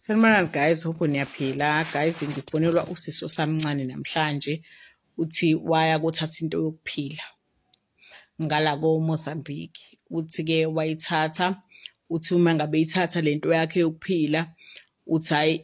Sanibonani guys, hope niyaphila. Guys, ngifonelwa usisi osamncane namhlanje uthi waya kothatha into yokuphila ngala ko-Mozambique. Uthi-ke wayithatha, uthi uma ngabe ithatha le nto yakhe yokuphila, uthi hhayi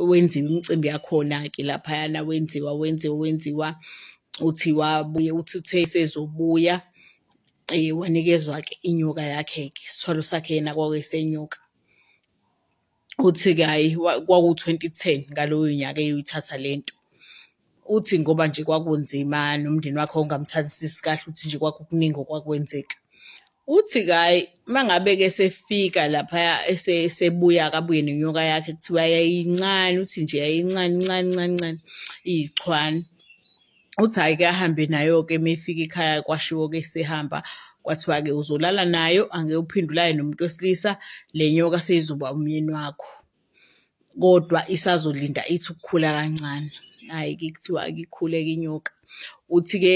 wenziwa imicimbi yakhona-ke laphayana wenziwa wenziwa wenziwa. Uthi wabuye uthi uthe sezobuya Eh, wanikezwa-ke inyoka yakhe-ke isithwalo sakhe yena kwakuyisenyoka uthi-ke hhayi kwaku-twenty ten ngaloyo nyaka eyoyithatha le nto uthi ngoba nje kwakunzima nomndeni wakhe wawungamthandisisi kahle uthi nje kwakukuningi okwakwenzeka uthi kayi uma ngabe-ke esefika laphaya esebuya akabuye nenyoka yakhe kuthiwa yayincane uthi nje yayincane ncane ncane ncane iyichwane uthi hhayi ke ahambe nayo-ke uma efika ikhaya kwashiwo-ke sehamba kwathiwa-ke uzolala nayo angeke uphinde ulale nomuntu wesilisa le nyoka seyizoba umyeni wakho kodwa isazolinda ithi ukukhula kancane hhayi ke kuthiwa akikhuleke inyoka uthi-ke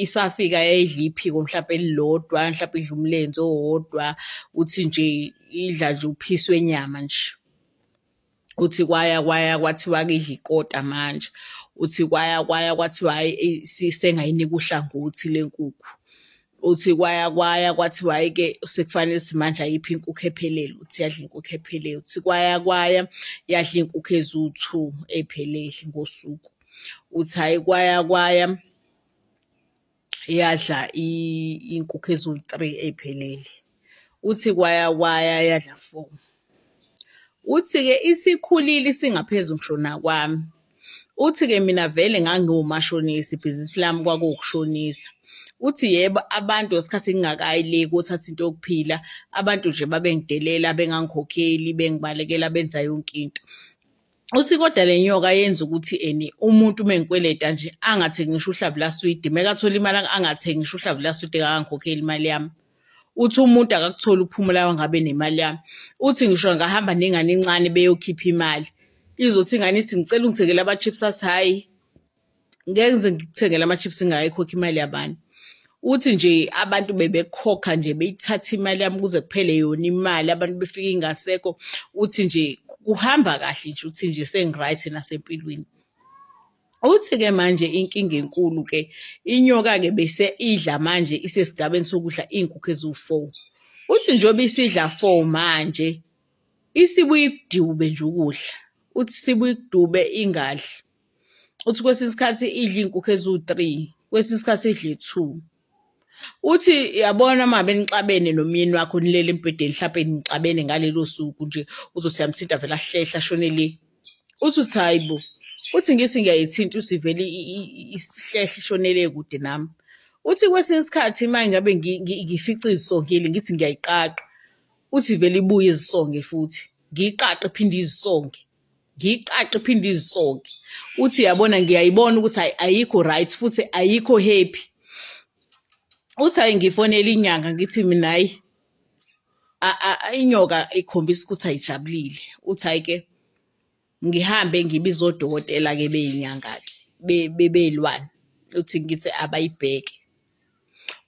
isafika yayidla iphiko mhlawumpe elilodwa mhlawumpe idla umlenze owodwa uthi nje idla nje uphisi wenyama nje uthi kwaya kwaya kwathiwa kidla ikota manje uthi kwaya kwaya kwathiwa hayi sengayinika uhlangothi lenkukhu uthi kwaya kwaya kwathiwa hayi ke sekufanele simanje ayiphi inkukhu ephelele uthi yadla inkukhu ephelele uthi kwaya kwaya yadla inkukhu eziwu-two ephelele ngosuku uthi hayi kwaya kwaya yadla inkukhu eziwu-three ey'phelele uthi kwaya kwaya yadla four uthi-ke isikhulile isingaphezulu ngisho nakwami uthi-ke mina vele ngangiwumashonisa ibhizinisi lami kwakuwukushonisa uthi yebo abantu ngesikhathi ngingakayi le kothatha into yokuphila abantu nje babengidelela bengangikhokheli bengibalekela benza yonke into uthi kodwa le nyoka yenza ukuthi eni umuntu uma engikweleta nje angathengi ngisho uhlavu laswidi meka athola imali angathengi ngisho uhlavu laswidi akangikhokheli imali yami uthi umuntu akakutholi ukuphumula wangabe nemali yami uthi ngisho ngahamba nengane encane beyokhipha imali izothi ingane ithi ngicela ungithengele ama-chips athi hhayi ngeke ngize ngikuthengele ama-chips ngayikhokha imali yabani uthi nje abantu bebekhokha nje beyithatha imali yami kuze kuphele yona imali abantu befike ingasekho uthi nje kuhamba kahle nje uthi nje sengi-right nasempilweni Uthi-ke manje inkinga enkulu-ke inyoka-ke bese idla manje isesigabeni sokudla iy'nkukhu eziwu-four. Uthi njengoba isidla four manje isibuye ikudube nje ukudla, uthi isibuye ikudube ingadli. uthi kwesinye isikhathi idla iy'nkukhu eziwu-three kwesinye isikhathi idle two uthi yabona uma benixabene nomyeni wakho nilele embhedeni mhlawumpe nixabene ngalelo suku nje uzothi yamthinta vele ahlehla ashone le uthi uthi hayi bo uthi ngithi ngiyayithinta uthi vele isihlehla ishonele kude nami uthi kwesinye isikhathi uma ngabe ngifica izisongile ngithi ngiyayiqaqa uthi vele ibuye izisonge futhi ngiyiqaqe phinde izisonge ngiyiqaqe iphinde izisoke uthi yabona ngiyayibona ukuthi ayikho right futhi ayikho happy uthi hayi ngifonela inyanga ngithi mina hayi inyoka ikhombisa ukuthi ayijabulile uthi hayi ke ngihambe ngibize odokotela ke beyinyanga ke bebelwane uthi ngithi abayibheke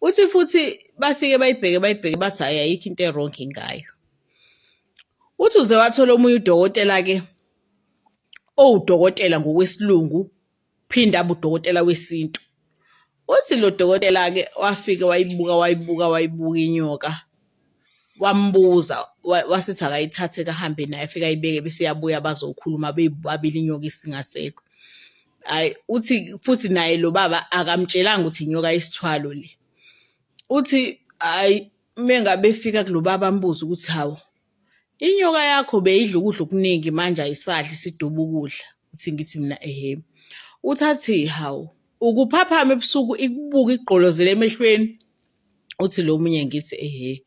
Uthi futhi bafike bayibheke bayibheke bathi hhayi ayikho into erongi ngayo. Uthi uze wathola omunye udokotela-ke owudokotela ngokwesilungu phinde abe udokotela wesintu. Uthi lo dokotela-ke wafike wayibuka wayibuka wayibuka inyoka. wambuza wasithi akayithathe kahambe naye afike ayibeke bese yabuya bazokhuluma bebabili inyoka isingasekho hayi uthi futhi naye lo baba akamtshelanga ukuthi inyoka isithwalo le uthi hayi mengabe efika kulobaba ambuza ukuthi hawo inyoka yakho beyidla ukudla okuningi manje ayisadli siduba ukudla uthi ngithi mina ehe uthathi hawo ukuphapha ebusuku ikubuka igqolozele emehlweni uthi lo munye ngithi ehe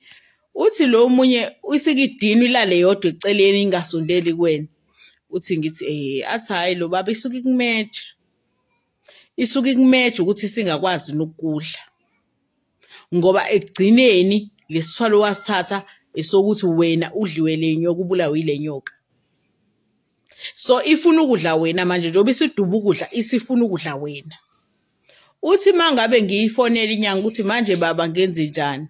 uthi lo munye isikidini ilale yodwa eceleni ingasondeli kuwena uthi ngithi ehe athi hhayi lo baba isuke ikumeja isuke ikumeja ukuthi singakwazi nokudla ngoba ekugcineni lesithwalo wasithatha esokuthi wena udliwe lenyoka ubulawe ilenyoka so ifuna ukudla wena manje njengoba isiduba ukudla isifuna ukudla wena uthi uma ngabe ngiyifonela inyanga ukuthi manje baba ngenze njani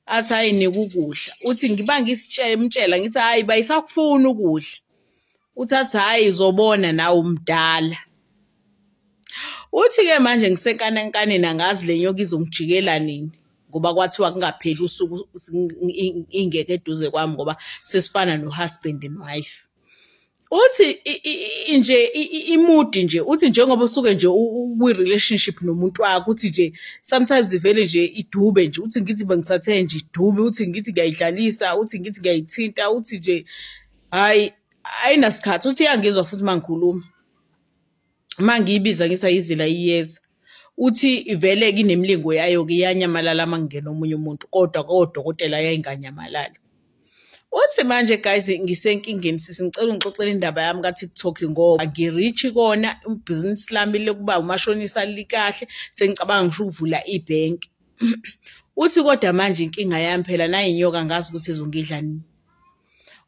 athi hayi nika ukudla uthi ngiba ngisitshela ngithi hayi bayisakufuna ukudla uthi athi hayi uzobona nawe umdala uthi-ke manje ngisenkanenkaneni angazi le nyoka izongijikela nini ngoba kwathiwa kungapheli usuku ingeke eduze kwami ngoba sesifana no-husband and wife uthi nje imudi nje uthi njengoba usuke nje ukwi-relationship nomuntu wakho uthi nje sometimes ivele nje idube nje uthi ngithi bengisathe nje idube uthi ngithi ngiyayidlalisa uthi ngithi ngiyayithinta uthi nje hhayi ayinasikhathi uthi iyangizwa futhi uma ngikhuluma uma ngiyibiza ngithi ayizila iyeza uthi ivele kinemilingo yayo-ke iyanyamalala uma kungena omunye umuntu kodwa kodokotela yayinganyamalali Uthi manje guys ngisenkingeni sisi ngicela ungixoxele indaba yami ka-TikTok ngoba ngirichi kona ibhizinisi lami lokuba umashonisa likahle sengicabanga ngisho ukuvula ibhenki. Uthi kodwa manje inkinga yami phela nayinyoka ngazi ukuthi izongidla nini.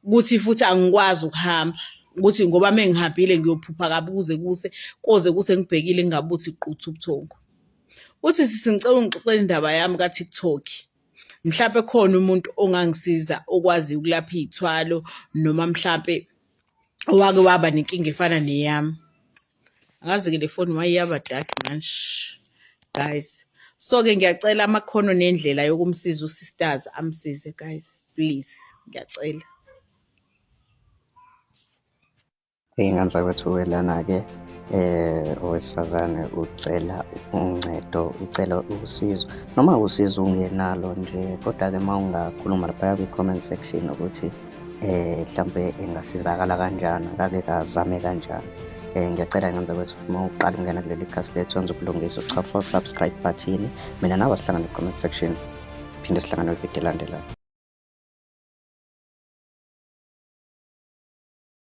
ukuthi futhi angikwazi ukuhamba ukuthi ngoba mengihambile ngiyophupha kabi kuze kuse koze kuse ngibhekile ngingabuthi quthu ubuthongo uthi sisi ngicela ungixoxele indaba yami ka-tiktok mhlawumpe khona umuntu ongangisiza okwazi ukulapha iy'thwalo noma mhlawumpe owake waba nenkinga efana neyami angazi ke le foni waye yaba dark manje guys so ke ngiyacela amakhono nendlela yokumsiza usisters amsize guys please ngiyacela iy'ngane zakwethu welana-ke eh owesifazane ucela uncedo ucela usizo noma usizo ungenalo nje kodwa-ke uma ungakhuluma laphaya kwi-comment section ukuthi eh mhlambe engasizakala kanjani kake kazame kanjani eh ngiyacela ngenze kwethu uma uqala ungena kuleli khasi lethu wenza ukulungisa uchafa for subscribe button mina nawe sihlangane comment section phinde sihlangane kwivideo elandelayo